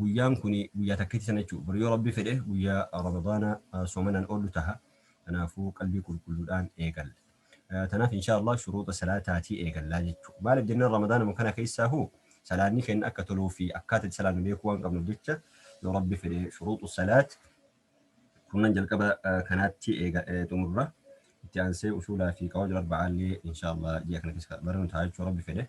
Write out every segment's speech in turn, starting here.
guyyaan kuni guyyaa takkitti sana jechuudha. Bor yoo Rabbi fedhe guyyaa Ramadaana soomanaan oollu taha. Kanaafuu qalbii qulqulluudhaan eegalla. Tanaaf inshaa Allah shuruuxa salaataatii eegallaa jechuudha. Maaliif jennaan Ramadaanuma kana keessaahu salaanni keenya akka toluu fi akkaataa itti salaannu beekuu waan qabnuuf jecha yoo Rabbi fedhe shuruuxu salaat kurnan jalqaba kanaatti xumurra. Itti aansee usuulaa fi qawaajul arba'aallee inshaa Allah ji'a kana keessa barnu ta'a jechuudha Rabbi fedhe.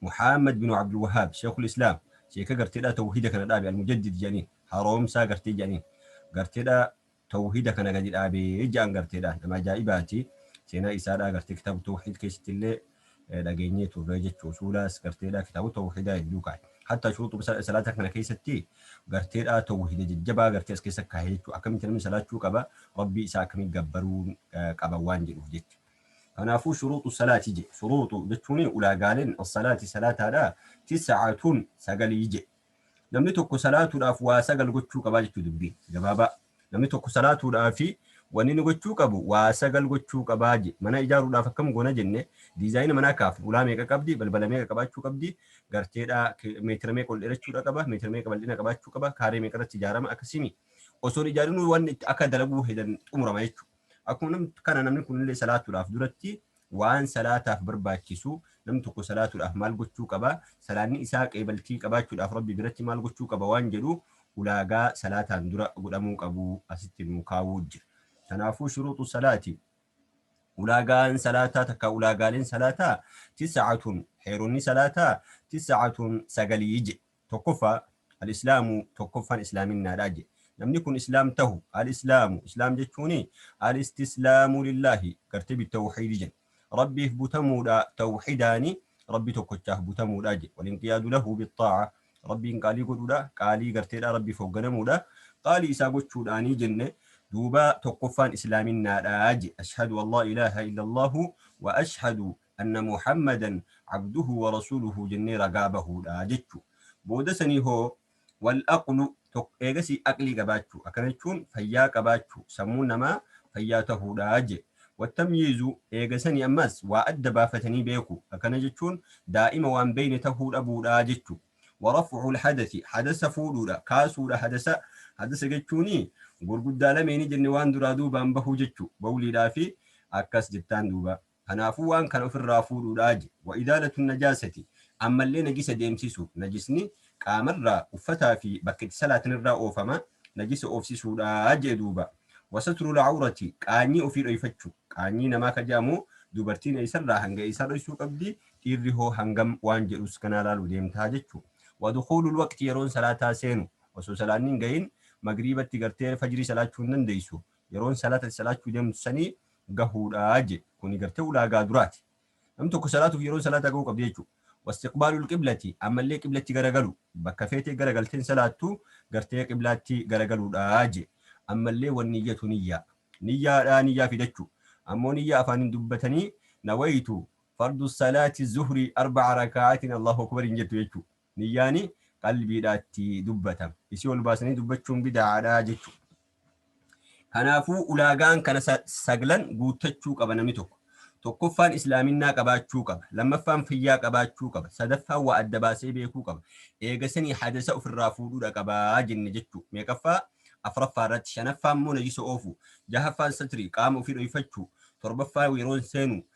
Muhammad binu Abdul Wahhaab, Sheekhul Islaam, sheeka garteedhaa tawhiida kana dhaabe Al-Mujaddid jedhaniin, haroomsaa gartee jedhaniin, garteedhaa tawhiida kana gadi dhaabe jedhan garteedhaa, nama ajaa'ibaati, seenaa isaadhaa gartee kitaaba tawhiid keessattillee dhageenyee turre jechuu usuulaas garteedhaa kitaaba tawhiidaa hedduu kaaye. Hattaa shuruuxuma sa- salaataa kana keessatti garteedhaa tawhiida jajjabaa gartee as keessa kaaye jechuu akkamitti namni salaachuu qaba, Rabbii isaa akkamitti gabbaruu eh, qaba waan jedhuuf jecha. Kanaafuu shuruuxu salaati je. Shuruuxu jechuun ulaagaaleen as-salaati salaataadhaa tis'atun sagalii je. Namni tokko salaatuudhaaf waa sagal gochuu qabaa jechuu dubbiin gabaabaa. Namni tokko salaatuudhaafi wanni inni gochuu qabu waa sagal gochuu qabaa je. Mana ijaaruudhaaf akkam goona jenne diizaayina manaa kaafna. Ulaa meeqa qabdi? Balbala meeqa qabaachuu qabdi? Garteedhaa meetira meeqa ol dheerachuudha qaba? Meetira meeqa bal'ina qabaachuu qaba? Kaaree meeqa irratti ijaarama? Akkasii mii? Osoo hin ijaarinuu wanni itti akka dalaguu hedan xumurama jechuudha. Akkuma nam- kana namni kunillee salaatuudhaaf duratti waan salaataaf barbaachisu namni tokko salaatuudhaaf maal gochuu qaba? Salaanni isaa qeebaltii qabaachuudhaaf Rabbi biratti maal gochuu qaba waan jedhu ulaagaa salaataan dura godhamuu qabu asitti nuu kaa'uu jira. Kanaafuu shuruuxu salaati ulaagaan salaataa takka ulaagaaleen salaataa tisacatun heeronni salaataa tisacatun sagalii jedhe. Tokkoffaa, Al-Islaamu, tokkoffaan Islaaminnaadha jedhe. Namni kun Islaam tahu, Al-Islaamu, Islaam jechuun Al-Istislaamu lillaahi, gartee bit-tawhiidi jedhe. Rabbiif butamuudha, tawhidaan Rabbi tokkochaaf butamuudha jedhe. Wal-inqiyaadu lahu bit-xaa'a, Rabbiin qaalii godhuudha, qaalii garteedha, Rabbiif hoogganamuudha, qaalii isaa gochuudhaani jenne. Duuba tokkoffaan Islaaminnaadha jedhe. Ashhadu an laa ilaaha illallaahu wa ashhadu anna Muhammadan abduhu wa rasuluhu jennee ragaa bahuudha jechu. Booda sanii hoo wal aqlu tokko eegasii aqlii qabaachu akkana jechuun fayyaa qabaachu sammuun namaa fayyaa tahuudha je. Wa tamyiizu eega sanii ammas waa adda baafatanii beeku akkana jechuun daa'ima waan beeyne tahuu dhabuudha jechu. Wa raf'ul hadathi hadasa fuudhuudha kaasuudha hadasa hadasa jechuuni gurguddaa lameeni jenne waan duraa duubaan bahu jechu bawliidhaa fi akkas jettaan duuba. Kanaafuu waan kana ofirraa fuudhuudha je. Wa izaalatu najaasati, ammallee najisa deemsisu, najisni qaamarraa, uffataa fi bakka itti salaatanirraa oofama, najisa oofsisuudha je'e duuba. Wa satrul awrati, qaanyii ofii dhoyfachu, qaanyii namaa ka je'amu dubartiin eeysarraa hanga eeysaa dhoysuu qabdi, dhiirri hoo hangam waan je'us ganaa laaluu deemta jechu. Wa dukuulul waqti, yeroon salaataa seenu, osoo salaanni hin gahin magriibatti gartee fajrii salaachuu hin dandeeysu, yeroon salaata itti salaachuu deemtu sanii gahuudha je kuni gartee ulaagaa duraati namni tokko salaatuuf yeroon salaataa gahuu qabdi jechuudha wastiqbaalul qiblati ammallee qiblatti garagalu bakka feetee garagalteen salaattu gartee qiblaatti garagaluudha je ammallee wan niyyatu niyyaa niyyaadhaa niyyaa fidachuu ammoo niyyaa afaaniin dubbatanii nawaytu fardu salaati zuhrii arba'a raka'aatiin allahu akbar hin jettu jechuudha Niyyaani qalbiidhaa itti dubbata. Isii ol baasanii dubbachuun bida'aadha jechu. Kanaafuu ulaagaan kana saglan guuttachuu qaba namni tokko. Tokkoffaan Islaaminnaa qabaachuu qaba. Lammaffaan fayyaa qabaachuu qaba. Sadaffaan waa adda baasee beekuu qaba. Eegasanii hadasa ofirraa fuudhuudha qaba jenne jechu. Meeqaffaa? Afraffaa irratti. Shanaffaa immoo najisa oofuu. Jahaffaan satrii, qaama ofii dhoyfachuu. Torbaffaa yeroon seenuu.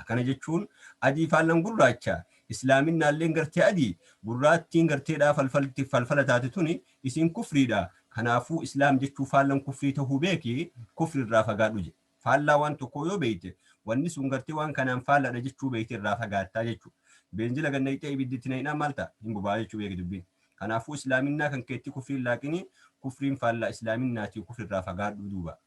Akkana jechuun, Adii faallan gurraacha, Islaaminaalleen gartee adii, gurraattiin gartee dhaa falfalti, falfala taate tuni, isiin kufrii dha, kanaafuu Islaam jechuu faallan kufrii tahuu beeki, kufri irraa fagaadhu jedhe. Faallaa waan tokkoo yoo beeyte, wanni sun gartee waan kanaan faalla dha jechuu beeytee irraa fagaattaa jechu. Beenzila gad nayxee ibiddi itti naynaan maal ta'a? Hin boba'a jechuu beeki dubbiin. Kanaafuu Islaaminnaa kan keetti kufriin laaqini, kufriin faallaa Islaaminnaati kufri irraa fagaadhu duuba.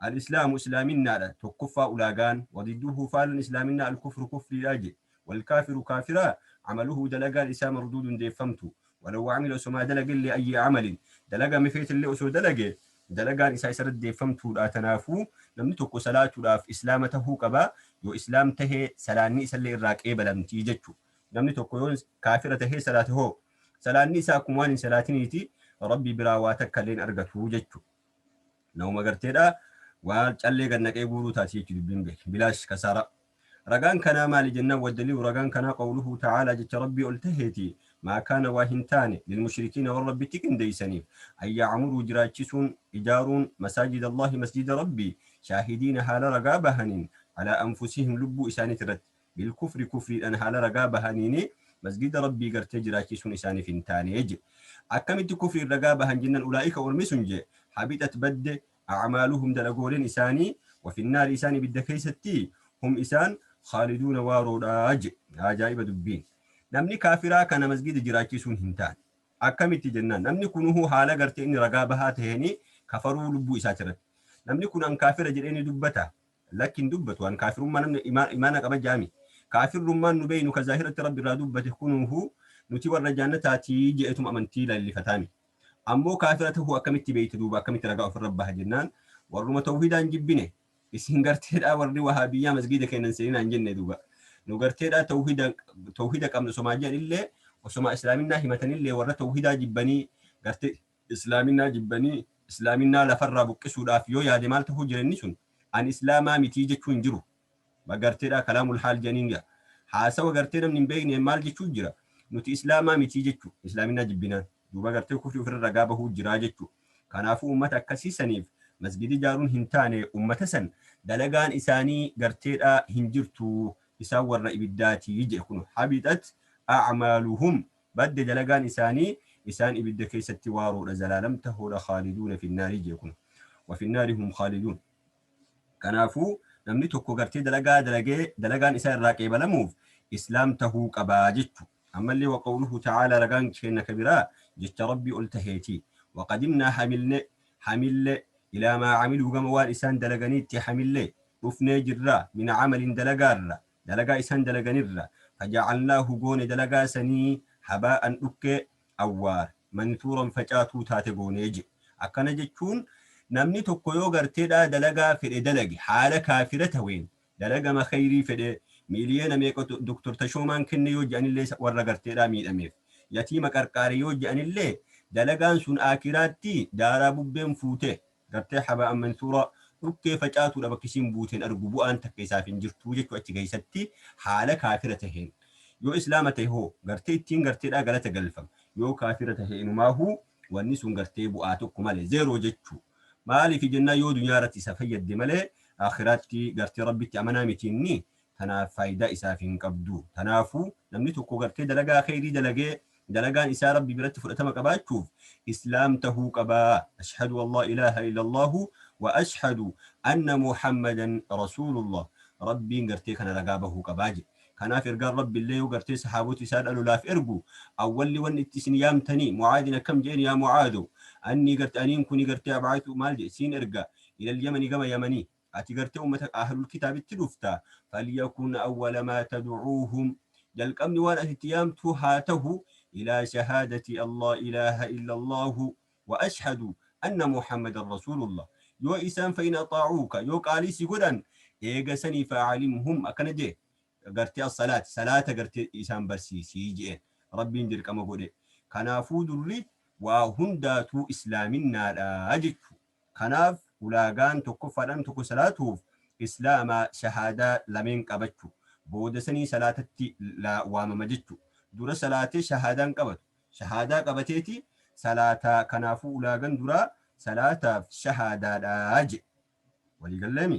Al-Islaamu Islaaminnaadha, tokkoffaa ulaagaan, wa didduhu faalan Islaaminna Al-Kufru kufriidha je. Wal kaafiru kaafira, amaluhu dalagaan isaa marduudun deeffamtu, walaw amila osomaa dalagellee ayyi amalin, dalagame feetellee osoo dalage, dalagaan isaa isarratti deeffamtuudha, tanaafu, namni tokko salaatudhaaf Islaama tahuu qaba, yoo Islaam tahe salaanni isallee irraa qeebalamti jechu. Namni tokko yoo kaafira tahee salaate hoo? Salaanni isaa akkuma waan hin salaatiniiti, Rabbi biraa waa takkallee hin argatu jechu. Namuma garteedha waa callee gad naqee guuruu taati jechuudha dubbiin beek bilaash kasaaraa. Ragaan kanaa maali jennaan waddaliilu ragaan kanaa qawluhu ta'aalaa jecha rabbii ol taheeti maa kaana waa hin taane lilmushrikiina warra rabbitti qindeeysaniif an ya'amuruu jiraachisuun ijaaruun masaajida allaahi masjida rabbii shaahidiina haala ragaa bahaniin alaa anfusihim lubbuu isaaniitirratti Bilkufri kufriidhaan haala ragaa bahaniin masgiida Rabbii gartee jiraachisuun isaaniif hin taane jedhe. Akkamitti kufriin ragaa bahan jennaan ulaa'ika ormi sun jedhe habixat badde a'maaluhum dalagooleen isaanii wa finnaari isaan ibidda keessatti hum isaan khaaliduuna waaroodha jedhe. Ajaa'iba dubbiin. Namni kaafiraa kana masgiida jiraachisuun hin taane. Akkamitti jennaan namni kunuhu haala gartee inni ragaa bahaa taheenii kafaruu lubbuu isaati irratti. Namni kun an kaafira jedhee ni dubbata. Lakki hin dubbatu an kaafirummaa namni imaa, imaana qaba jaami. Kaafirrummaan nu beeynu ka zaahiratti Rabbi irraa dubbate kunuuhu nuti warra jaannataa ti je'eetuma amantii lallifataami. Ammoo kaafira tahuu akkamitti beeyta duuba akkamitti ragaa ufirra baha jennaan warruma tawhiidaa hin jibbine isin garteedhaa warri wahaabiyyaa masgiida keenna hin seeninaa hin jenne duuba. Nu garteedhaa tawhiida, tawhiida qabna osomaa je'anillee osomaa islaaminaa himatanillee warra tawhiidaa jibbanii gartee Islaaminaa jibbanii Islaaminaa lafarraa buqqisuudhaaf yoo yaade maal tahuu jira inni sun ani Islaamaa mitii jechuu hin jiru ma garteedhaa kalaamul haal jedhaniin gaa haasawa gartee namni hin beekneen maal jechuu jira nuti Islaamaa mitii jechuu Islaaminaa jibbinaan duuba gartee kufrii ofirra ragaa bahuu jiraa jechuu kanaafuu ummata akkasii saniif masgida ijaaruun hin taane ummata san dalagaan isaanii garteedhaa hin jirtu isaan warra ibiddaatii jedhe kuno habixat acmaaluhum Badde dalagaan isaanii isaan ibidda keessatti waaroodha zalaalam tahuudha khaaliduuna fi nnaari jee kun wa fi nnaari hum khaaliduun kanaafu namni tokko gartee dalagaa dalagee dalagaan isaa irraa qeebalamuuf islaam tahuu qabaa jechu ammallee wa qawluhu ta'aala ragaan keenna ka biraa jecha rabbii ol taheeti wa qadimnaa hamilne hamille ilaa maa camiluu gama waan isaan dalaganiitti hamille dhufnee jirra min camalin dalagaarra Dalagaa isaan dalaganirraa, faja'alnaahu goone dalagaa sanii, habaa'an dhukkee, awwaar, mansuuran facaatuu taate goone je'e. Akkana jechuun namni tokko yoo gartee dhaa dalagaa fedhe dalage haala kaafira taween, dalagama kheyrii fedhee, miiliyoona meeqa Dr. Tashoomaan kenne yoo je'anillee warra gartee dhaa miidhameef, yatiima qarqaare yoo je'anillee, dalagaan sun aakhiraatti daaraa bubbeen fuutee, gartee Haba Mansuura dhukkee facaatuudha bakki isiin buuteen argu bu'aan takka isaaf hin jirtu jechuu achi keessatti haala kaafira taheen yoo islaama tahe hoo gartee ittiin garteedhaa galata galfama yoo kaafira tahe inumaahuu wanni sun gartee bu'aa tokko malee zeeroo jechuu maaliif jennaan yoo dunyaa irratti isa fayyadde malee akhiraatti gartee rabbitti amanaa miti inni tanaaf faaydaa isaaf hin qabdu. Tanaafuu namni tokko gartee dalagaa kheyrii dalagee dalagaan isaa Rabbi biratti fudhatama qabaachuuf Islaam tahuu qaba. Ashhadu an laa ilaaha illallaahu wa ashhadu anna Muhammadan Rasuulullah. Rabbiin gartee kana ragaa bahuu qaba jedhe. Kanaaf ergaan Rabbi illee yoo gartee sahaabota isaa dha lolaaf ergu awwalli wanni itti isin yaamtanii Mu'aadin akkam jedheen yaa Mu'aado annii gartee aniin kuni gartee ab'aatu maal jedhe siin erga ilal yamani gama yamanii Ati gartee ummata Ahlul Kitaabitti dhufta. Falyakun awwala maa tad'uuhum. Jalqabni waan ati itti yaamtuu haa tahu, ilaa shahaadati allaa ilaaha illallaahu wa ashhadu anna Muhammadan rasuulullah. Yoo isaan fa'in axaa'uuka, yoo qaalii si godhan, eega sanii fa'alimhum akkana je'e, gartee as-salaat, salaata gartee isaan barsiisi je'een. Rabbiin dirqama godhe. Kanaafuu durri waa hundaatuu islaaminnaadha jechuu. Kanaaf ulaagaan tokkoffaadhaan tokko salaatuuf Islaama shahaadaa lameen qabachu. Booda sanii salaatatti waamama jechu. Dura salaatee shahaadaa hin qabatu. Shahaadaa qabateeti salaata kanaafuu ulaagan duraa salaataaf shahaadaadha jedhe. Walii galleemi?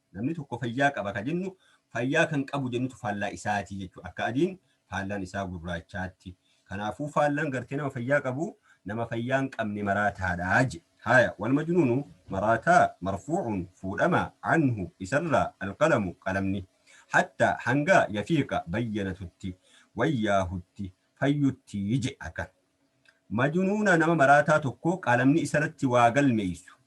Namni tokko fayyaa qaba ka jennu fayyaa kan qabu jennutu faallaa isaati jechuudha. Akka adiin faallaan isaa gurraachaatti. Kanaafuu faallaan gartee nama fayyaa qabu nama fayyaa hin qabne maraataadha je. Haaya walmajnuunu maraataa marfuucun fuudhama canhu isarraa alqalamu qalamni. Hattaa hangaa yafiiqa bayyanatutti wayyaahutti fayyutti je. Akka. Majunuuna nama maraataa tokkoo qalamni isarratti waa galmeeysu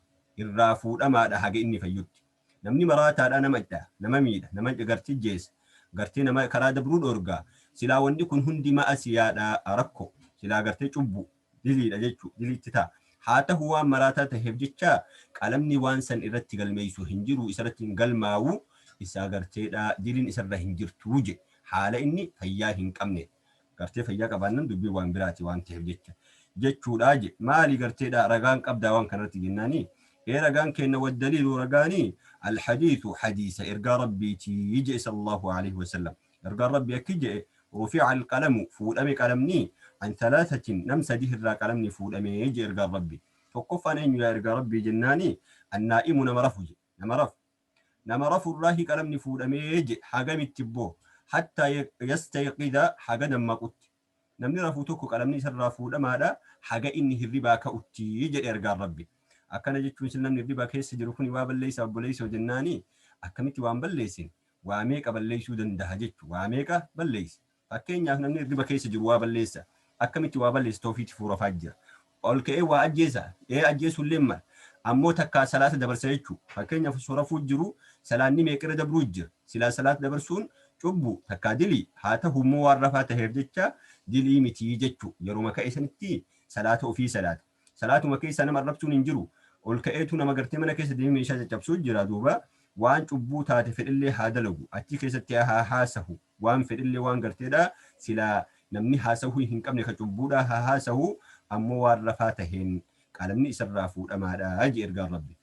irraa fuudhamaadha haga inni fayyutti. Namni maraataadha nama hdha, nama miidha, nama gartee ijjeesa, gartee nama karaa dabruu dhoorga. Silaa wanni kun hundi ma'asiyaadha, rakko, silaa gartee cubbu, diliidha jechu, diliitti ta'a. Haa tahu waan maraataa taheef jecha qalamni waan san irratti galmeeysu hin jiru, isarratti hin galmaawu, isaa garteedha, dilin isarra hin jirtu jedhe. Haala inni fayyaa hin qabne Gartee fayyaa qabaannan dubbiin waan biraati waan taheef jecha jechuudhaa je. Maali garteedhaa ragaan qabdaa waan kana irratti jennaani ee ragaan keenna waddaliilu ragaani alhadiisu hadiisa ergaa rabbiitii je sallallahu aleyhi wasallam ergaan rabbii akki je'e rufi'a alqalamu fuudhame qalamni an thalaasatin nam sadih irraa qalamni fuudhame je ergaan rabbii tokkoffaan eenyu yaa ergaa rabbii jennaani annaa'imu nama rafu je nama rafu Nama rafurraahi qalamni fuudhamee je hagamitti boo? Hattaa yastayqidha haga dammaqutti. Namni rafu tokko qalamni isarraa fuudhamaadha haga inni hirribaa ka'utti jedhe ergaan Rabbi. Akkana jechuun sil namni hirriba keessa jiru kuni waa balleessa obboleessoo jennaani akkamitti waan balleessin waa meeqa balleessuu dandaha jechu waa meeqa balleessa. Fakkeenyaaf namni irriba keessa jiru waa balleessa. Akkamitti waa balleessa? Tawfiiqti fuurafaa jira. Ol ka'ee waa ajjeesa? Ee ajjeesuu illee mala. Ammoo takkaa salaata dabarsa jechuu. Fakkeenyaaf osoo rafuu jiru salaanni meeqa irra dabruu jira. Silaa salaata dabarsuun cubbu, takkaa dilii, haa tahu immoo waan rafaa taheef jecha dilii miti jechu. Yeruma ka'e sanitti salaata ofii salaata. Salaatuma keessaa nama arrabsuun hin jiru. Ol ka'eetu nama gartee mana keessa deemee meeshaa caccabsuu jira duuba waan cubbuu taate fedhellee haa dalagu. Achi keessatti haa haasahu. Waan fedhellee waan garteedha, silaa namni haasawuu hin qabne ka cubbuudhaa haa haasawu, ammoo waan rafaa taheen qalamni isarraa fuudhamaadha jee ergaan Rabbi.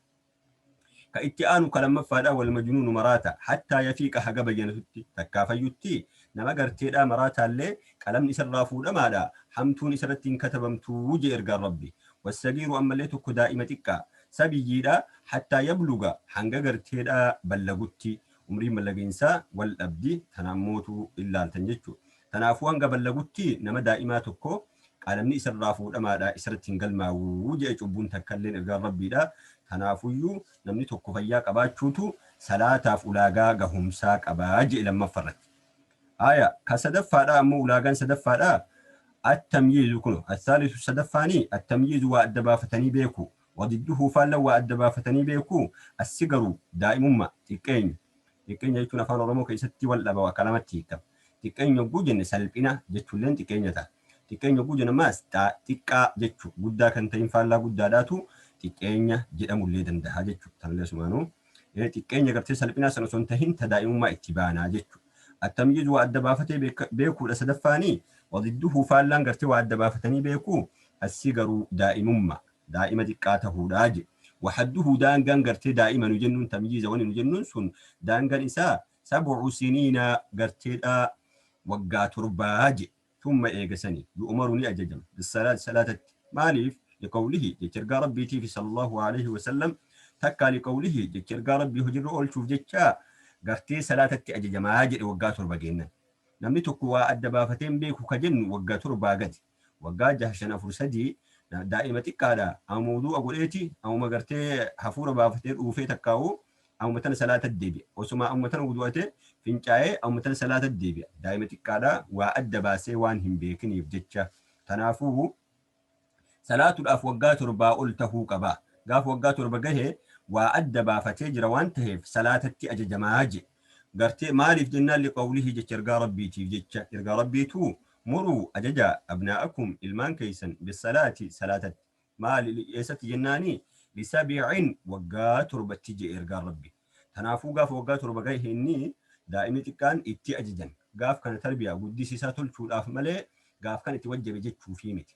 Ka itti aanu ka lammaffaadha, wal majnuunu maraata, hattaa yafiiqa haga bayyanatutti, takkaa fayyutti, nama garteedha maraataallee qalamni isarraa fuudhamaadha, hamtuun isarratti hin katabamtu jee ergaan Rabbi. Wassagiiru ammallee tokko daa'ima xiqqaa, sabiyyiidha, hattaa yabluga hanga garteedha ballagutti, Umriin ballagiinsaa wal dhabdi, tanaan mootuu in laaltan jechuudha. Tanaafuu hanga ballagutti nama daa'imaa tokko qalamni isa irraa fuudhamaadha, isa irratti hin galmaawu jedhe cubbuun takka illeen ergaan Rabbiidha. Tanaafuyyuu namni tokko fayyaa qabaachuutu salaataaf ulaagaa gahumsaa qaba jedhe lammaffa irratti. Aaya, ka sadaffaadhaa ammoo ulaagaan sadaffaadhaa, At-tamyiizu kuno, As-saalisu sadaffaanii, At-tamyiizu waa adda baafatanii beekuu, Wa gidduhuu faalla waa adda baafatanii beekuu? Assi garuu, daa'imumma, xiqqeenya. Xiqqeenya jechuun afaan Oromoo keessatti wal dhaba bakka lamatti hiikama. Xiqqeenya yogguu jenne salphina jechulleen xiqqeenya ta'a. Xiqqeenya yogguu jennu ammaas xa, xiqqaa jechu, guddaa kan ta'in faallaa guddaadhaatu xiqqeenya jedhamullee dandaha jechu. Tanullee asumaanuu xiqqeenya gartee salphinaa san osoo hin tahin ta daa'imummaa itti baana jechu. Attamyiiz waa adda baafatee beeka, beekuudha sadaffaanii. Wa gidduhuu faallaan gartee waa adda baafatanii beekuu? Assi garuu, daa'imumma. daa'ima xiqqaa tahuudha je. Wahadduhu daangaan gartee daa'ima nu jennuun tamyiiza wani nu jennuun sun daangaan isaa sab'u siniina garteedha waggaa torbaa je. Thumma eega sani yu'umaru ni ajajama bissalaati salaatatti maaliif liqawlihi jecha ergaa rabbiitiifi sallallahu aleyhi wasallam takkaa liqawlihi jecha ergaa rabbii hojirra oolchuuf jecha gartee salaatatti ajajamaa jedhe waggaa torba geennan. Namni tokko waa adda baafatee hin beeku ka jennu wagga torbaa gadi. waggaa jaha shan afur sadii daa'ima xiqqaadha amuma wuduu'a godheeti amuma gartee hafuura baafatee dhuufee takkaa'u amuma tana salaata deebi'a osuma amuma tana wuduu'ate fincaa'ee amuma tana salaata deebi'a daa'ima xiqqaadha waa adda baasee waan hin beekiniif jecha tanaafuu salaatuudhaaf waggaa torbaa ol tahuu qaba gaafa waggaa torba gahe waa adda baafatee jira waan taheef salaatatti ajajamaa je gartee maaliif jennaan liqawlihii jecha ergaa rabbiitiif jecha ergaa rabbiitu Muruu, ajajaa, abnaa'akum, ilmaan keessan, bis-salaati, salaatatti. Maali, eessatti jennaani? Bi-sab'in, waggaa torbatti je'e Ergaan Rabbii. Tanaafuu gaafa waggaa torba gahe inni, daa'imni xiqqaan, itti ajajan. Gaaf kana tarbiyaa, guddisisaa, tolchuudhaaf malee, gaaf kana itti wajjabe jechuufii miti.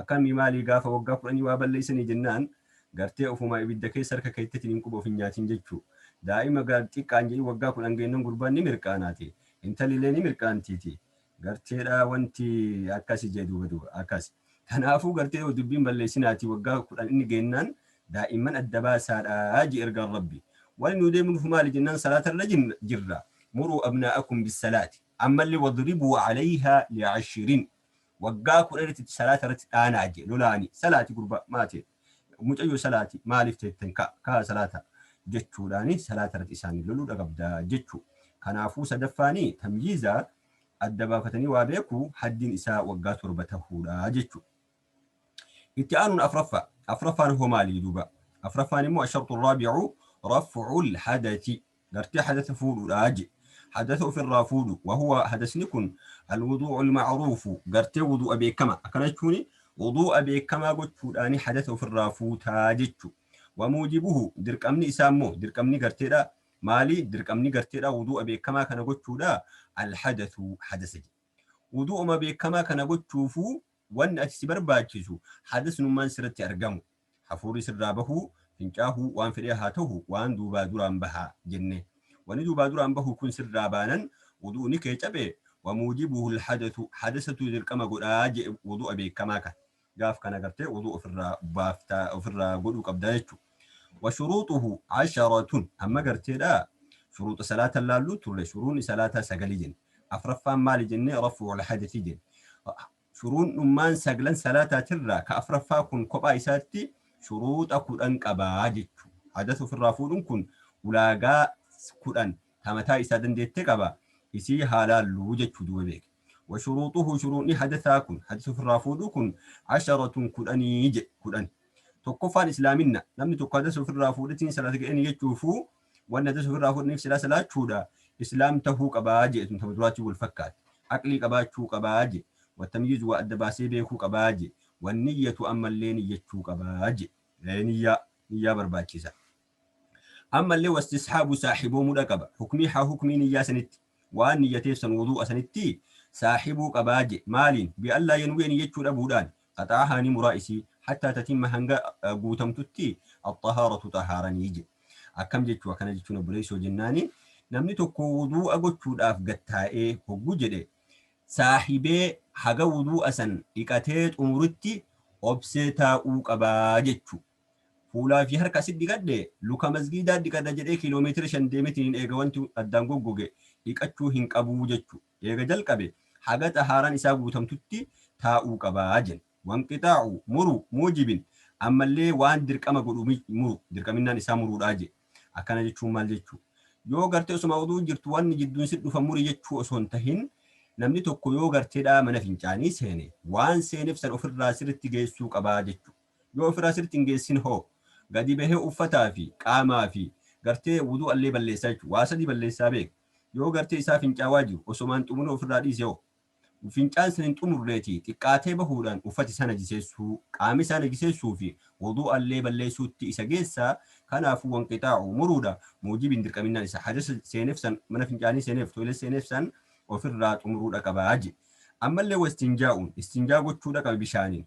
Akkamii maalii gaafa waggaa kudhanii waa balleessanii jennaan gartee ofumaa ibidda keessa harka keettetiin hin quba of hin nyaatiin jechuu daa'ima gar xiqqaan jedhii waggaa kudhan geennan gurbaan ni mirqaanaati intallilee ni mirqaantiiti garteedhaa wanti akkasi jee duuba duuba akkas kanaafuu gartee dubbiin balleessinaati waggaa kudhan inni geennaan daa'imman adda baasaadhaa jee ergaan rabbi wani nuu deemnuuf maali jennaan salaata irra jirra muruu abnaa'akum bissalaati ammallee wadribuu alayhaa li'ashirin Waggaa kudhanitti itti salaata irratti dhaanaa jee lolaanii salaati gurbaa maate mucayyoo salaati maaliif teetten ka kaa salaata jechuudhaani salaata irratti isaanii loluu dhagabdaa jechuu kanaafuu sadaffaani tamyiiza adda baafatanii waa beekuu haddiin isaa waggaa torba tahuudha jechuu itti aanuun afraffaa afraffaan hoo maalii duuba afraffaan immoo asharxu raabi'u raf'ul hadathi gartee hadasa fuudhuudha je hadasa ofirraa fuudhu wahuwa hadasni kun alwuduu'u alma'ruufu gartee wuduu'a beekama akkana jechuuni wuduu'a beekamaa gochuudhaani hadasa ofirraa fuutaa jechu wamuujibuhu dirqamni isaa immoo dirqamni garteedha maali dirqamni garteedha wuduu'a beekamaa kana gochuudha alhadasu hadasa je wuduu'uma beekamaa kana gochuufu wanni ati si barbaachisu hadasnummaan sirratti argamu Hafuurri sirraa bahuu, fincaahuu, waan fedhee haa tahu waan duubaa duraan baha jenne. Wani duubaa duraan bahu kun sirraa baanan wudu'ni kee cabe, wa muujibuhul hadathu, hadasatu dirqama godha je'e wudu'a beekkamaa kan. Gaaf kana gartee wudu'a ofirraa baafta, ofirraa godhuu qabda jechu. Wa shuruuxuhu asharatun, amma gartee dha shuruuxa salaata laalluu turre, shuruuxni salaataa sagali jenne. Afraffaan maali jenne? Raf'ul hadathi jenne. Shuruuxnummaan saglan salaataatirraa ka afraffaa kun kophaa isaatti shuruuxa kudhan qaba jechu. Hadasa ufirraa fuudhun kun ulaagaa kudhan ta mataa isaa dandeette qaba, isii haa laallu jechu duuba beeki. Wa shuruuxuhu shuruuxni hadasaa kun, hadasa ufirraa fuudhuu kun, asharatun kudhanii jedhe, kudhan. Tokkoffaan islaaminna, namni tokko hadasa ufirraa fuudhetiin salaata ga'e ni jechuufuu, Wanni hadiisa ofirraa fudhaniif silaa salaachuudha. Islaam tahuu qabaa jee tun tama duraatiin wal fakkaatti. Aqlii qabaachuu qabaa jee. Wattamyiizu waa adda baasee beekuu qabaa jee. Wanniyyatu ammallee niyyachuu qabaa jee. Ee niyyaa niyyaa barbaachisa. Ammallee wastisxaabu saaxiboomuudha qaba. Hukmii haa hukmii niyyaa sanitti. waan niyyateef san wuduu'a sanitti saahibuu qabaa je, maaliin? bi allaa yanwiya niyyachuu dhabuudhaan, qaxa'ahaa ni muraa isii, hattaa tatimma hanga guutamtutti, axxahaaratu xahaaranii je. akkam jechuu akkana jechuun obboleessoo jennaani, namni tokko wuduu'a gochuudhaaf gad taa'ee hoggu jedhe saahibee haga wuduu'a san dhiqatee xumurutti obsee taa'uu qabaa jechuu. Fuulaa fi harka asit dhiqadhe luka masgiidaa dhiqadha jedhee kiiloomeetira shan deemetiniin eega wanti addaan goggoge dhiqachuu hin qabu jechu eega jalqabe haga xahaaraan isaa guutamtutti taa'uu qaba jen. Wanqixaacu, muruu, muujibin, ammallee waan dirqama godhu muru, dirqaminnaan isaa muruudha je. Akkana jechuun maal jechu? Yoo gartee osoma wudu'u jirtu wanni jidduun sit dhufa muri jechuu osoo hin tahin namni tokko yoo garteedhaa mana fincaanii seene waan seenef san ofirraa sirritti geessuu qaba jechu. Yoo ofirraa sirritti hin geessin hoo? Gadi bahee uffataa fi qaamaa fi gartee wuduu'allee balleessaa jechuudha. Waa sadii balleessaa beeka. Yoo gartee isaa fincaawaa jiru osoma hin xumurin ofirraa dhiise hoo? Fincaan san hin xumurreeti xiqqaatee bahuudhaan uffati isaa najiseessuu, qaami isaa najiseessuu fi wuduu'allee balleessuutti isa geessa. Kanaafuu wanqixaa'u, muruudha. Muujibi hin dirqaminnaan isa hadasa seeneef san, mana fincaanii seeneef, toilet seeneef san ofirraa xumuruudha qaba je. Ammallee wastinjaa'uun, istinjaa gochuudha qaba bishaaniin.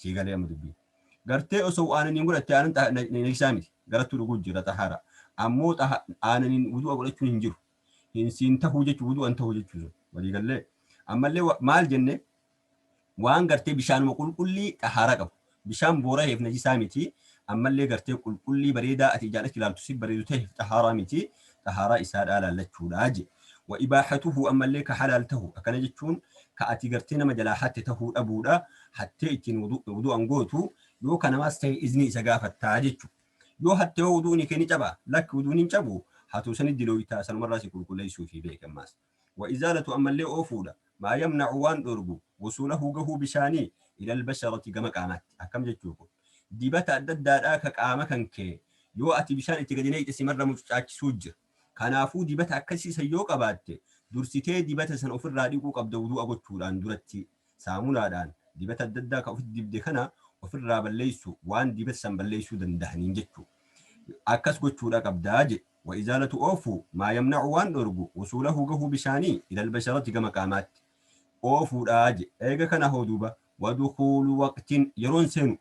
sii galee amma dubbii gartee osoo aananiin godhatte aanan xa- na- na- najisaa miti garattuu dhuguu jira xahaaraa ammoo xaha- aananiin wudu'a godhachuun hin jiru hin siin tahuu jechuu wudu'an tahuu jechuu sun walii gallee ammallee wa- maal jenne waan gartee bishaanuma qulqullii xahaaraa qabu bishaan boora heef najisaa miti ammallee gartee qulqullii bareedaa ati ijaan achi ilaaltu si bareedu ta'eef xahaaraa miti xahaaraa isaadhaa laallachuudha je. Wa ibaaxatuhu ammallee ka halaal tahu akkana jechuun ka ati gartee nama jalaa hatte tahuu dhabuudha hattee ittiin wudu'an gootu yoo ka namaas tahe iznii isa gaafattaa jechu. Yoo hatte hoo wudu'ni kee ni cabaa? Lakki wudu'ni hin cabu hatuu sani dilooytaa sanumarraa si qulqulleeysuufi beeki ammaas. Wa izaalatu ammallee oofuudha. Maa yamnacu waan dhoorgu, wusuulahu gahuu bishaanii, ilal basharati gama qaamaatti. Akkam jechuu kun? Dibata adda addaadhaa ka qaama kan kee yoo ati bishaan itti gadi naqxe simarra mucucaachisuu jira. Kanaafuu dibata akkasii san yoo qabaatte dursitee dibata san ofirraa dhiquu qabda wuduu'a gochuudhaan durattii. Saamunaadhaan dibata adda addaa kan ofitti dibde kana ofirraa balleessu waan dibata san balleessuu dandahaniin jechuu. Akkas gochuudha qabdaa jedhe. Wa izaalatu oofuu maa yamna'u waan dhoorgu wusuulahu gahuu bishaanii ilal basharati gama qaamaatti. Oofuudha jedhe. Eega kana hoo duuba wa dukuulu waqtin yeroon seenu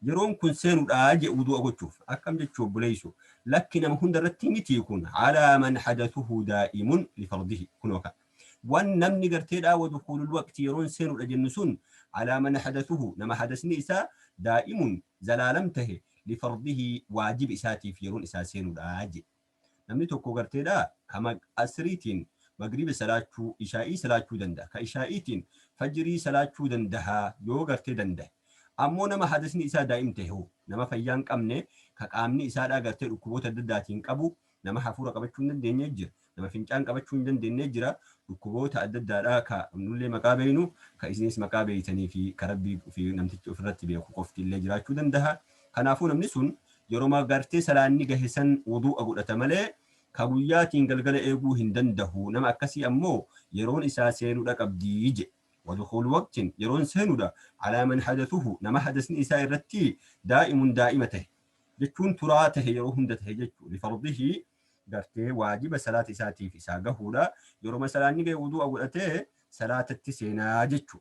Yeroon kun seenudha je'e wudu'a gochuuf. Akkam jechuu obboleeyso. Lakki nama hunda irratti mitii kun. Alaa man hadathuhu daa'imun lifardhihi. Kunoo ka. Wan namni gartee dhaa wadukhulul waqti yeroon seenudha jennu sun alaa man hadathuhu nama hadasni isaa daa'imun zalaalam tahe lifardhihi waajiba isaatiif yeroon isaa seenudha je'e. Namni tokko garteedhaa ka Asriitiin Magriiba salaachuu, Ishaa'ii salaachuu danda'a. Ka Ishaa'iitiin Fajrii salaachuu dandaha yoo gartee dandahe. Ammoo nama hadasni isaa daa'im tahe hoo? Nama fayyaa hin qabne, ka qaamni isaadhaa gartee dhukkuboota adda addaatiin qabu, nama hafuura qabachuu hin dandeenne jira. Nama fincaan qabachuu hin dandeenne jira. Dhukkuboota adda addaadhaa ka nullee maqaa beeynu, ka isiniis maqaa beeytanii fi ka Rabbii fi namtichi ufirratti beeku qofti illee jiraachuu dandaha. Kanaafuu namni sun yeroma gartee salaanni gahe san wuduu'a godhata malee ka guyyaatiin galgala eeguu hin dandahu, nama akkasii ammoo yeroon isaa seenuudha qabdi je'e. Wadukhulu waqtin, yeroon seenuudha, alaa man hadathuhu, nama hadasni isaa irratti daa'imun daa'ima tahe, jechuun turaa tahe yeroo hunda tahe jechu, lifardhihi, gartee waajiba salaata isaatiif isaa gahuudha, yeroma salaanni gahe wuduu'a godhatee salaatatti seenaa jechu.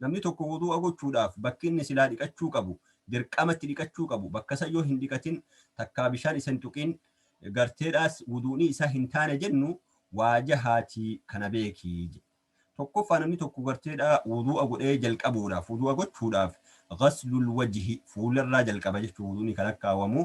Namni tokko wuduu'a gochuudhaaf bakki inni silaa dhiqachuu qabu, dirqama itti dhiqachuu qabu, bakka san yoo hin dhiqatin, takkaa bishaan isa hin tuqin, garteedhaas wuduu'ni isaa hin taane jennu, waa jahaati kana beeki jedhe. Tokkoffaa namni tokko garteedhaa wuduu'a godhee jalqabuudhaaf, wuduu'a gochuudhaaf, ghaslul wajhi, fuularraa jalqaba jechuun wuduu'ni ka lakkaawamu,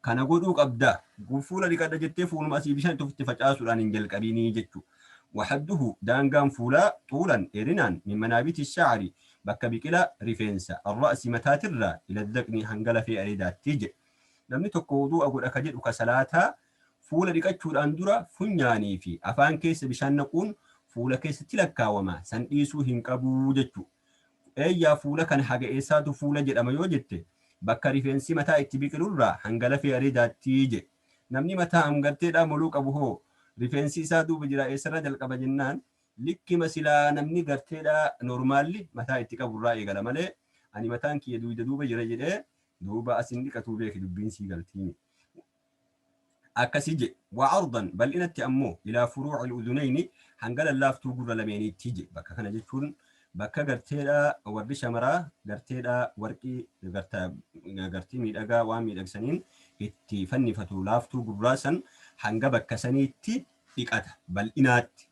Kana godhuu qabda. Kun fuula dhiqadha jettee fuuluma asii bishaan itti ofitti facaasuudhaan hin jalqabini jechu. Waxadduhu daangaan fuulaa xuulan dheerinaan min manaabiti sha'ari bakka biqila rifeensa arra'si mataatirraa ila dhaqni hanga lafee areedaatti jedhe. Namni tokko wuduu'a godha ka jedhu ka salaataa fuula dhiqachuudhaan dura funyaanii fi afaan keessa bishaan naquun fuula keessatti lakkaawama san dhiisuu hin qabu jechu. Eeyyaa fuula kan haga eessaatu fuula jedhama yoo jette bakka rifeensi mataa itti biqilu irraa hanga lafee areedaatti je. Namni mataa amgarteedhaa moluu qabu hoo rifeensi isaa duuba jiraa eessarraa jalqaba jennaan likkima silaa namni garteedhaa normaalli mataa itti qabu irraa eegala malee ani mataan kiyya duuyda duuba jira jedhee duuba as hin dhiqatuu beeki dubbiin sii galtiimi. akkasi je, wa'ardan bal'inatti ammoo ilaa furuu'il udunayni hanga lallaaftuu gurra lameeniitti je, bakka kana jechuun bakka garteedha warri shamaraa garteedha warqii garta gartii miidhagaa waan miidhagsaniin itti fannifatu laaftuu gurraa san hanga bakka saniitti dhiqata bal'inaatti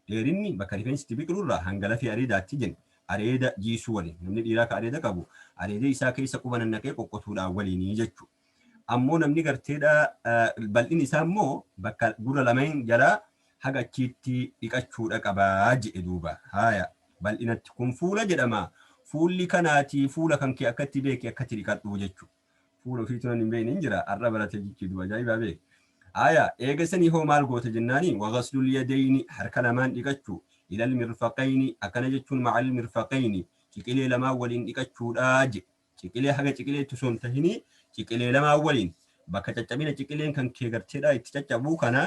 dheerinni bakka rifeensi itti biqilu irraa hanga lafee areedaatti jen areeda jiisuu waliin namni dhiiraa ka areeda qabu areeda isaa keessa quba nannaqee qoqqotuudhaan waliinii jechuu Ammoo namni garteedha bal'inni isaa immoo bakka gurra lameen jalaa haga achiitti dhiqachuudha qaba jedhe duuba. Haaya bal'inatti kun fuula jedhama. Fuulli kanaati fuula kan kee akkatti beeki akkatti dhiqadhu jechuudha. Fuula ofiitu nan hin beekne hin jira har'a baratee jechuudha duuba ajaa'ibaa beeki. Haaya eegasanii hoo maal goota jennaani wagaslul yadayni harka lamaan dhiqachuu ilal mirfaqayni akkana jechuun ma'al mirfaqayni ciqilee lamaan waliin dhiqachuudha jedhe. Ciqilee haga ciqileetti osoo hin tahinii ciqilee lamaa waliin bakka caccabina ciqileen kan kee garteedhaa itti caccabuu kana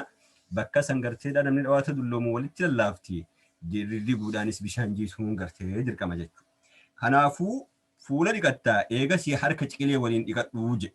bakka san garteedhaa namni dhawaata dulloomu walitti lallaafti diguudhaanis bishaan jiisuun gartee dirqama jechuudha. Kanaafuu fuula dhiqattaa eegasii harka ciqilee waliin dhiqadhuu jedhe.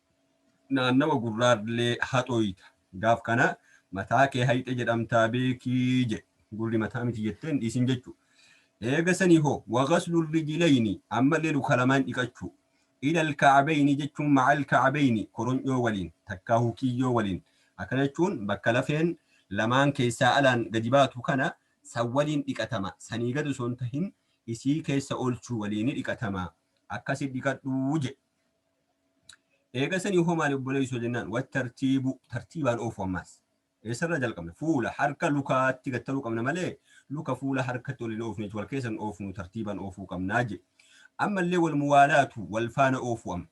naannawa gurraallee haxooyta. Gaaf kana mataa kee hayxe jedhamtaa beeki jedhe. Gurri mataa miti jettee hin dhiisin jechuu. Eega sanii hoo wa ghaslul rijlayni ammallee luka lamaan dhiqachuu. Ilal ka'abayni jechuun ma'al ka'abayni koronyoo waliin takkaahuu kiyyoo waliin. Akkana jechuun bakka lafeen lamaan keessaa alaan gadi baatu kana san waliin dhiqatama. Sanii gad osoo hin tahin isii keessa oolchuu waliini dhiqatama. Akkasi dhiqadhu jedhe. Eega sanii hoo maali obboleessoo jennaan wattartiibu tartiibaan oofu ammaas. Eessarraa jalqabna? Fuula, harka, lukaatti gattaruu qabna malee luka fuula harkatti ol hin oofne jechuudha. Wal keessa hin oofnu tartiibaan oofuu qabnaa jedhe. Ammallee wal muwaalaatu wal faana oofuu amma.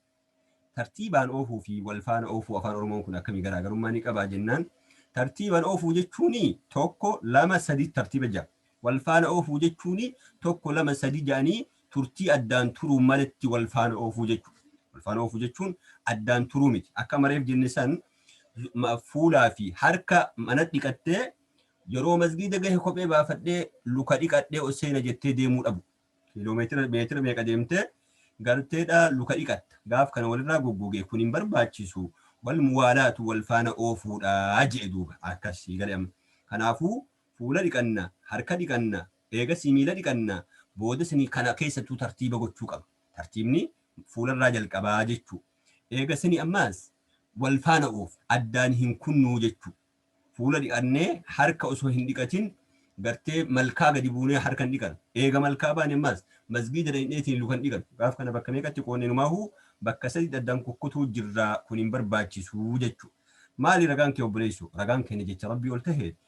Tartiibaan oofuu fi wal faana oofuu afaan Oromoon kun akkamii garaagarummaa ni qabaa jennaan tartiibaan oofuu jechuun tokko lama sadii tartiiba jira. Wal faana oofuu jechuun tokko lama sadi jedhanii turtii addaan turuun maletti wal faana oofuu jechuudha. Wal faana oofuu jechuun addaan turuu miti. Akka amma reef jenne san fuulaa fi harka mana dhiqattee yeroo masgiida gahe kophee baafadhee luka dhiqadhee ol seena jettee deemuu dhabu. Kiiloomeetira meetira meeqa deemtee garteedhaa luka dhiqatta. Gaaf kana walirraa goggogee kun hin barbaachisu. Wal muwaalaatu wal faana oofuudha jedhe duuba akkasii gale amma. Kanaafuu Fuula dhiqanna, harka dhiqanna, eegasii miila dhiqanna, booda sanii kana keessattuu tartiiba gochuu qaba. Tartiibni fuularraa jalqabaa jechuu. Eega sanii ammaas wal faana oofu, addaan hin kunnuu jechuu. Fuula dhiqannee harka osoo hin dhiqatin gartee malkaa gadi buunee harka hin dhiqanu. Eega malkaa baane ammaas masgiida dhayneetiin luka hin dhiqanu. Gaaf kana bakka meeqatti qoodne inumaahuu bakka saditti addaan kukkutuu jirra kun hin barbaachisu jechuu. Maali ragaan kee obboleesso? Ragaan keenya jecha Rabbii ol taheeti.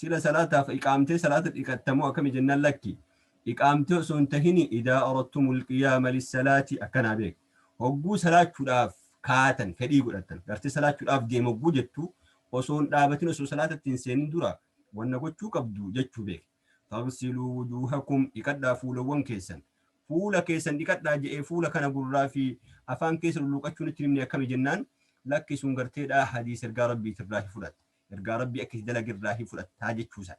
Sila salaataaf iqaamtee salaata dhiqatta moo akkami jennaan lakki iqaamtee osoo hin tahini idaa aradtumul qiyaama lissalaati akkanaa beek hogguu salaachuudhaaf kaatan fedhii godhattan gartee salaachuudhaaf deema hogguu jettu osoo hin dhaabatin osoo salaatatti hin seenin dura wanna gochuu qabdu jechuu beek fagsiluu wujuuhakum dhiqadhaa fuulawwan keessan fuula keessan dhiqadhaa je'ee fuula kana gurraa fi afaan keessa lulluuqachuun itti himne akkami jennaan lakki sun garteedhaa hadiis ergaa rabbiitirraa fudhatte Ergaa Rabbii akka itti dalage irraa hin fudhattaa jechuu isaa.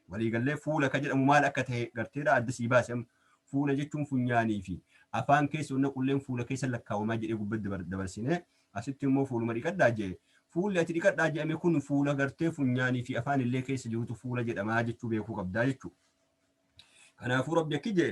Walii gallee fuula ka jedhamu maal akka tahe garteedha adda sii baase amma. Fuula jechuun funyaanii fi afaan keessa ol naqulleen fuula keessa lakkaawamaa jedhee gubbatti dabar- dabarsinee asitti immoo fuuluma dhiqadhaa jee. Fuulli ati dhiqadhaa jedhame kun fuula gartee funyaanii fi afaan illee keessa jirutu fuula jedhamaa jechuu beekuu qabdaa jechuu. Kanaafuu Rabbi akki jee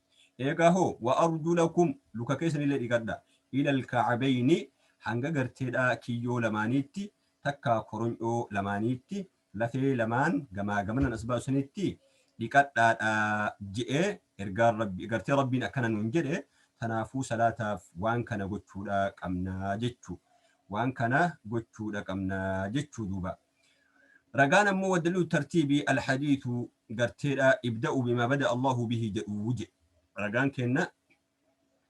Eegaa hoo wa arjulakum luka keessanillee dhiqadha ilal ka'abayni hanga garteedhaa kiyyoo lamaaniitti takkaa koronyoo lamaaniitti lafee lamaan gamaa gamanan as baasu sanitti dhiqadhaadha je'ee ergaan rabbi gartee rabbiin akkana nuun jedhe tanaafuu salaataaf waan kana gochuudha qabnaa jechuu waan kana gochuudha qabnaa jechuu duuba. Ragaan ammoo waddaliilu tartiibi alhadiisu garteedha ibda'u bimaa bada'a Allaahu bihi jedhu jedhe. Ragaan keenna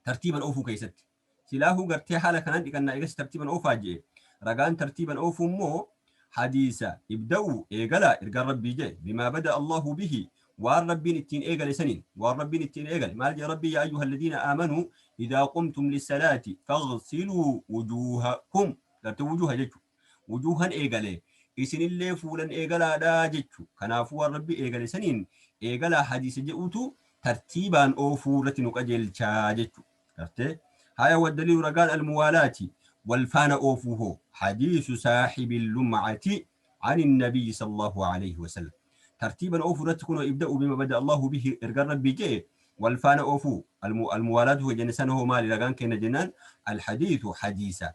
tartiiban oofuu keessatti. Silaahuu gartee haala kanaan dhiqannaa eegas tartiiban oofaa jedhe. Ragaan tartiiban oofuu immoo hadiisa ibda'u eegala ergaan rabbii jedhe bimaa bada'a Allaahu bihi waan rabbiin ittiin eegale saniin waan rabbiin ittiin eegale maal jedhe rabbii yaa ayyuha alladhiina aamanuu idaa qumtum lissalaati faghsiluu wujuuhakum gartee wujuuha jechuudha. Wujuuhan eegale, isinillee fuulan eegalaadha jechu. Kanaafuu waan Rabbi eegale saniin eegalaa hadiisa je'utu tartiibaan oofuu irratti nu qajeelcha jechu. Gartee? Haya waddaliilu ragaan al-muwaalaati, wal faana oofuu hoo? Hadiisu saahibil lum'ati ani nabiyyi sallallahu aleyhi wa sallam. Tartiiban oofuu irratti kunoo ibda'u bima bada Allahu bihi ergan Rabbii je'e wal faana oofuu. Al-muwaalaatu jenne sana hoo maali ragaan keenna jennaan al-hadiisu hadiisa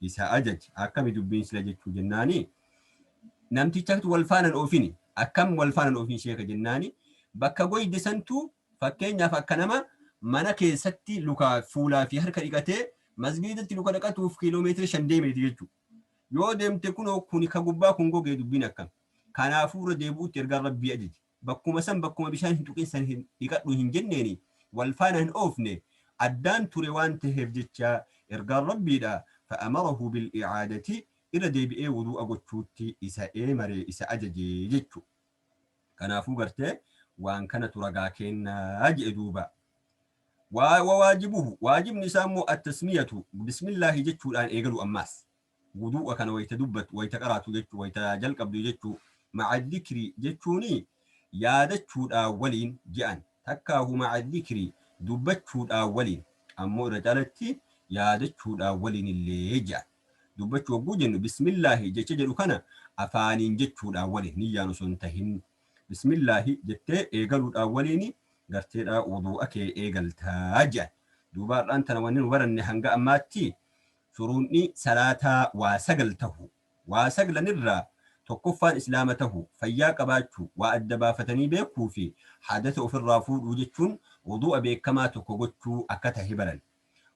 isa ajaje akkami dubbiin sila jechuu jennaani namtichatu wal faanan oofini akkam wal faanan oofin sheeka jennaani bakka goyde santu fakkeenyaaf akka nama mana keessatti lukaa fuulaa fi harka dhiqatee masgiidatti luka dhaqatuuf kiiloomeetira shan deemeeti jechuu yoo deemte kunoo kuni ka gubbaa kun gogee dubbiin akkam kanaafuu irra deebi'utti ergaan rabbii ajaje Bakkuma san bakkuma bishaan hin tuqin san hin dhiqadhu hin jenneeni wal faana hin oofne addaan ture waan taheef jecha ergaan Rabbiidha fa'amarahu bil'i'aadati irra deebi'ee wuduu'a gochuutti isa eemare isa ajaje jechu kanaafuu gartee waan kanatu ragaa keenna je'e duuba wa wawaajibuhu waajibni isaa immoo attasmiyatu bismillaahi jechuudhaan eegalu ammaas Wuduu'a kana wayta dubbattu, wayta qaraatu jechuu, wayta jalqabdu jechuu, ma'a zikri jechuuni yaadachuudhaa waliin je'an, takkaahu ma'a zikri dubbachuudhaa waliin, ammoo irra caalatti yaadachuudhaa waliinillee je'an. Dubbachuu hogguu jennu bismillaahi jecha jedhu kana afaaniin jechuudhaa waliin, niyyaan osoo hin tahin. Bismillaahi jettee eegaluudhaa waliin garteedhaa wuduu'a kee eegalta je'an. Duuba har'aan tana wanni nu baranne hanga ammaatti, Shuruuxni salaataa waa sagal tahu. Waa saglan irraa tokkoffaan islaama tahu, fayyaa qabaachu, waa adda baafatanii beekuu fi hadasa of irraa fuudhuu jechuun wuduu'a beekkamaa tokko gochuu akka tahe baran.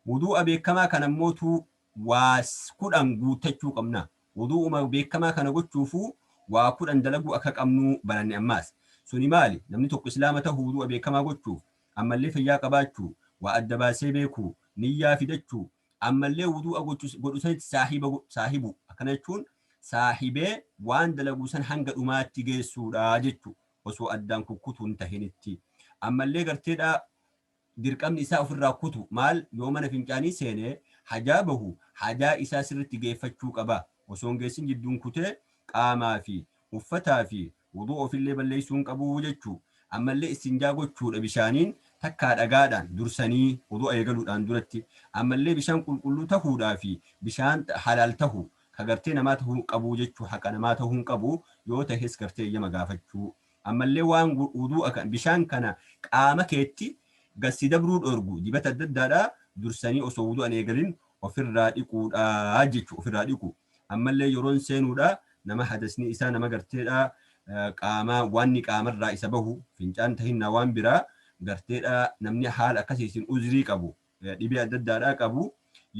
Wuduu'a beekkamaa kana immootu waa kudhan guuttachuu qabna. Wuduu'uma beekkamaa kana gochuufuu waa kudhan dalaguu akka qabnuu baranne ammaas. Suni maali? Namni tokko islaama tahu wuduu'a beekkamaa gochuuf, ammallee fayyaa qabaachuu, waa adda baasee beekuu, niyyaa fidachuu, ammallee wuduu'a gochu godhu sanitti saahiba go- saahibu akkana jechuun saahibee waan dalagu san hanga dhumaatti geessuudha jechu osoo addaan kukkutu hin tahinitti ammallee garteedha dirqamni isaa ofirraa kutu maal yoo mana fincaanii seene hajaa bahu hajaa isaa sirritti geeffachuu qaba osoo hin geessin jidduun kutee qaamaa fi uffataa fi Wuduu ofillee balleessuu hin qabu jechuu. Ammallee istinjaa gochuudha bishaaniin takkaa dhagaadhaan dursanii wudu'a eegaluudhaan duratti. Ammallee bishaan qulqulluu tahuudhaa fi bishaan halaal tahu ka gartee namaa tahuu qabuu jechuu haqa namaa tahuu hin qabu yoo tahes gartee eeyyama gaafachuu. Ammallee waan wuduu'a kan bishaan kana qaama keetti gad si dabruu dhoorgu dibata adda addaadhaa dursanii osoo wudu'a hin eegalin ofirraa dhiquudha jechuu ofirraa dhiquu. Ammallee yeroon seenuudha nama hadasni isaa nama garteedha qaamaa waanni qaamarraa isa bahu fincaan tahinnaa waan biraa garteedha namni haala akkasiisin uzrii qabu dhibee adda addaadhaa qabu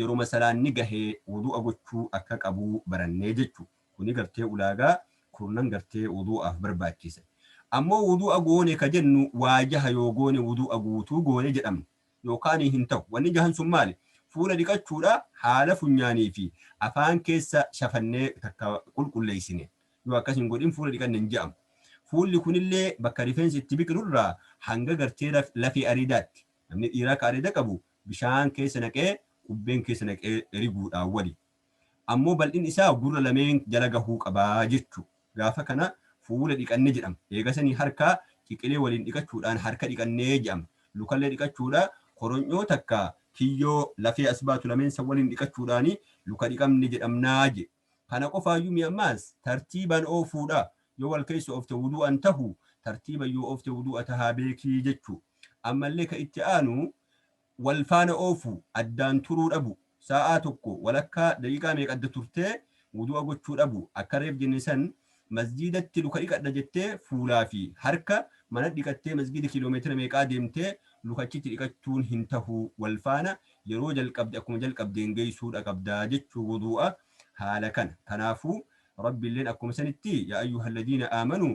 yeruma salaanni gahe wudu'a gochuu akka qabu barannee jechu. Kuni gartee ulaagaa kurnan gartee wudu'aaf barbaachise. Ammoo wudu'a goone ka jennu waa jaha yoo goone wudu'a guutuu goone jedhamna. yookaan hin ta'u. Wanni jahan sun maali? Fuula dhiqachuudha, haala funyaanii fi afaan keessa shafannee takka qulqulleessine. Yoo akkas hin godhin fuula dhiqanne hin ja'amu. Fuulli kunillee bakka rifeensi itti biqilu irraa hanga gartee lafee areedaatti. Namni dhiiraa ka areeda qabu bishaan keessa naqee qubbeen keessa naqee riguudhaan waliin. ammoo bal'inni isaa gurra lameen jala gahuu qaba jechu. Gaafa kana fuula dhiqanne jedhama. Eegasanii harka ciqilee waliin dhiqachuudhaan harka dhiqanne jedhama. Lukallee dhiqachuudha. Koronyoo takka kiyyoo lafee as baatu lameen san waliin dhiqachuudhaan luka dhiqamne jedhamna je. Kana qofaayyuu mi ammaas tartiiban oofuudha. Yoo wal keessa oofte wudu'an tahu, tartiiban yoo oofte wudu'a tahaa beeki jechu. Ammallee ka itti aanu. wal faana oofu, addaan turuu dhabu, saa'aa tokko walakkaa daqiiqaa meeqa adda turtee wudu'a gochuu dhabu, akka reef jenne san masjiidatti luka dhiqadha jettee fuulaa fi harka manat dhiqattee masgiida kiiloomeetira meeqaa deemtee luka achitti dhiqachuun hin tahu wal faana yeroo jalqabde akkuma jalqabdeen geessuu dha qabda jechuu wudu'a haala kana kanaafuu Rabbilleen akkuma sanitti yaa ayyuhalladiina aamanuu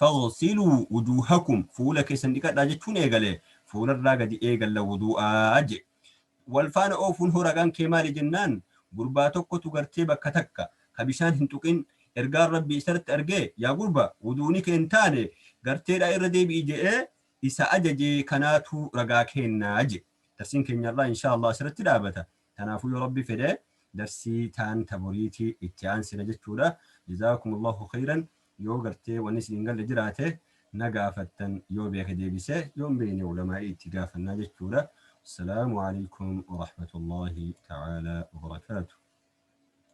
Faghsiluu wujuuhakum, fuula keessan dhiqadhaa jechuun eegale. Fuularraa gadi eegalla wuduu'a je. Wal faana oofuun hoo ragaan kee maali jennaan, gurbaa tokkotu gartee bakka takka ka bishaan hin tuqin ergaan Rabbii isarratti argee yaa gurba wuduu'ni kee hin taane garteedhaa irra deebi'i je'ee isa ajaje kanaatu ragaa keenna je. Darsiin keenya har'aa inshaa Allaah asirratti dhaabata. Kanaafuu yoo Rabbi fedhe darsii taan ta boriiti itti aansina jechuudha. Jazaakumullahu kheyran yoo gartee wanni isin hin galle jiraate na gaafattan yoo beeke deebise yoo hin beeyne ulamaa'ii itti gaafannaa jechuudha. Wassalaamu aleykum warahmatullaahi ta'aalaa wabarakaatuh.